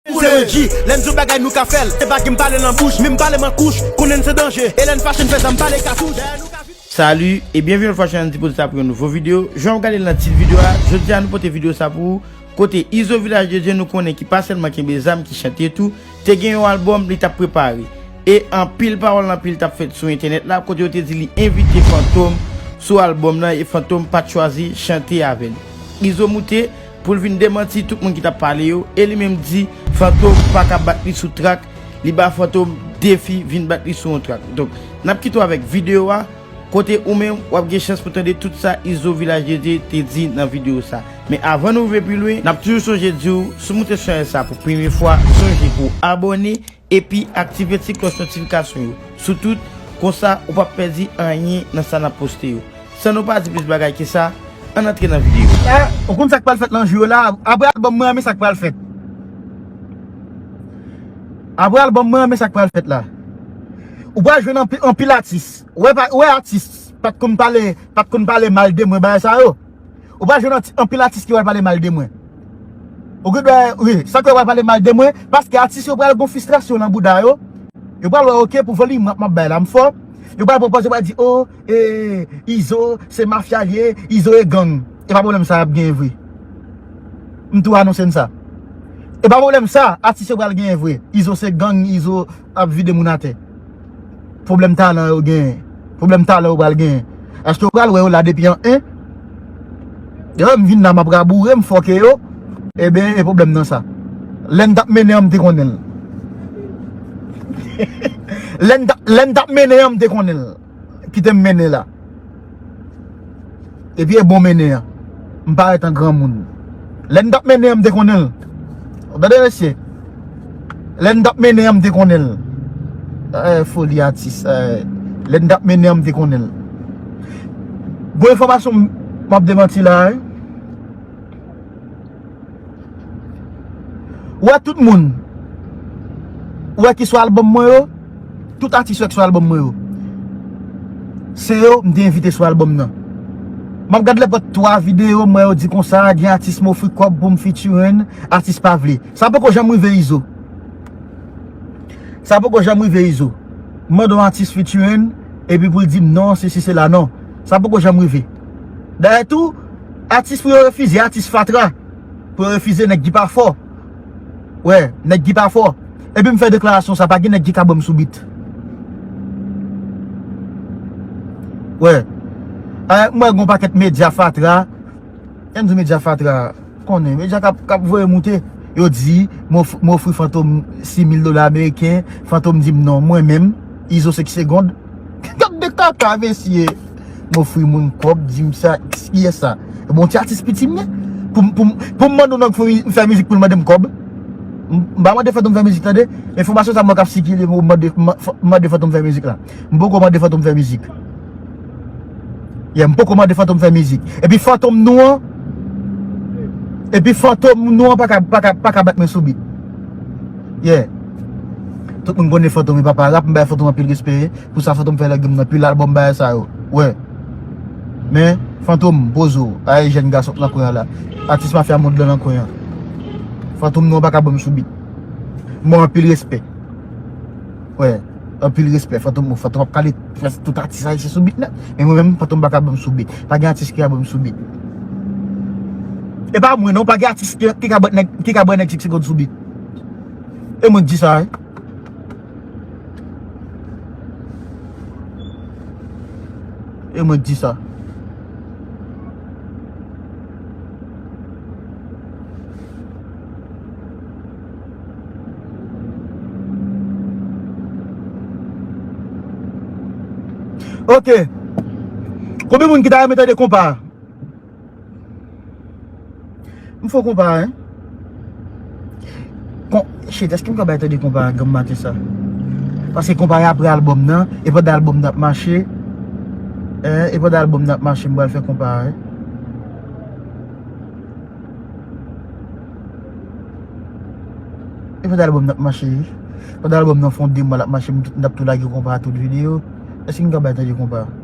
Ou se Reggie, lè n di w bagay nou ka fè l Se pa gin m pale nan bouch, min m pale m an kouch Konnen n se danje, e lè n fache n fè zam pale katouch Dèyè nou ka vin. Salut e byenvini yon lòt fwa sou chanèl Ti Poze sa pou yon nouvo video, jan wap gade l nan tit video a, jodi a nou pote video sa pou ou, kote Izo Vilaj de Dye nou konnen ki pa sèlman kenbe zam ki chante tou, te gen yon album li tap prepare. E anpil pawòl anpil tap fèt sou entènèt la kote yo te di li envite Fantom sou album nan e Fantom pat chwazi chante avè li. Izo moute. Pou l vin demanti tout moun ki t ap pale yo e li menm di Fantom pa ka bat li sou trak, li ba Fantom defi vin bat li sou yon trak. Donk, n ap kite w avèk videyo a, kote ou menm w ap gen chans pou tande tout sa Izo Vilaj de Dye te di nan videyo sa. Men avan nou rive pi lwen, n ap toujou sonje di w, si w moute chanèl sa pou premye fwa, sonje pou w abòne Epi aktive ti klòch notifikasyon yo sou tout, konsa ou pap pèdi anyen nan sa nap poste yo. San nou pa di plis bagay ke sa, ann antre nan video. Eh ou konn sak pral fèt nan jou yo la aprè album mwen an men sak pral fèt aprè album mwen an men sak pral fèt la ou pral jwenn anpil atis ou wè atis pat konn pale pat konn pale mal de mwen bagay sa yo. Ou pa jwenn anpil atis ki pral pale mal de mwen. Ou gen dwa wi, san ke yo pral pale mal de mwen, paske atis yo pral gon fistrasyon nan bouda yo. Yo pral wè ok pou volim map map bay la m fò. Yo pral pran pòz yo pral di oh eh Izo se mafya li ye, Izo e gang. E pa pwoblèm sa yap genyen vre. M tou anonse n sa. E pa pwoblèm sa atis yo pral genyen vre. Izo se gang, Izo. Ap vide moun atè. Pwoblèm talan yo genyen. Pwoblèm talan yo pral genyen. Eske ou pral wè yo la depi an 1? Devan m vin la m ap raboure, m fòke yo. Eben, e pwoblèm nan sa. Lè n t ap mennen an m te konnen l. Lè n t ap mennen an m te konnen l. Kite m mennen la. Epi e bon mennen an. M parèt an granmoun. Lè n t ap mennen an m te konnen l. Ou tande mesye? Lè n t ap mennen an m te konnen l. Eeh foli atis. Lè n t ap mennen an m te konnen l. Bon enfòmasyon m ap demanti la. Ou wè tout moun Ou wè ki sou album mwen yo Tout atis yo ki sou album mwen yo Se yo m te envite sou album nan M ap gad lèpòt 3 videyo m wè yo di konsa gen atis m ofri kòb pou m featuring atis pa vle Sa poko janm rive Izo Sa poko janm rive Izo M mande yon atis featuring epi pou l di m non sesi sela non Sa poko janm rive Dayè tou Atis pou yo refize atis fatra pou yo refize nèg ki pa fò wè nèg ki pa fò epi m fè deklarasyon sa pa gen nèg ki ka ban m sou bit wè m wè gon pakèt medya fatra lè m di medya fatra m konnen medya k ap voye moute yo di m ofri fantom 6000 dola ameriken fantom di m non mwen menm izo 5 segond kap de kaka mesye. M ofri moun kob di m sa kiyes sa? E bon ti atis piti m ye? Pou m mande yon nèg pou m fè mizik pou l mande m kob? M pa mande fantom fè mizik tande enfomasyon sa mank ap sikile pou m mande fantom fè mizik la M poko mande fantom fè mizik Yeah m poko mande fantom fè mizik E pi fantom nou an E pi fantom nou an pa ka pa ka pa ka bat mwen sou bit Yeah Tout moun konnen fantom e papa rap m bay fantom anpil respè. Pou sa fantom fè lègèm nan pil album bagay sa yo wè men fantom poze w bagay jèn gason k nan kwen an la atis mafya mond lan nan kwen an fantom non w paka banm sou bit m baw anpil respè wè anpil respè fantom bon fantom ap kale prèsk tout atis ayisyen sou bit nèt men mwen menm fantom paka banm sou bit pa gen atis ki ka banm sou bit e pa mwen non pa gen atis ki ka ban nèg 30 segond sou bit e mwen k di sa wi. E mwen di sa. Ok. Koube moun ki ta yon mwen tande kompa. M fò konpa hein. Kon, shit eske m ka bay tande konpa a ganmate sa? Paske konpa a apre album nan, e pandan album nan ap mache, eh, e pandan album nan ap mache m pral fè konpa a hein. E pandan album nan ap mache, pandan album nan fon 2 mwa lap mache m tout, m tap tou lage konpa a tout video, eske m ka bay tande konpa a?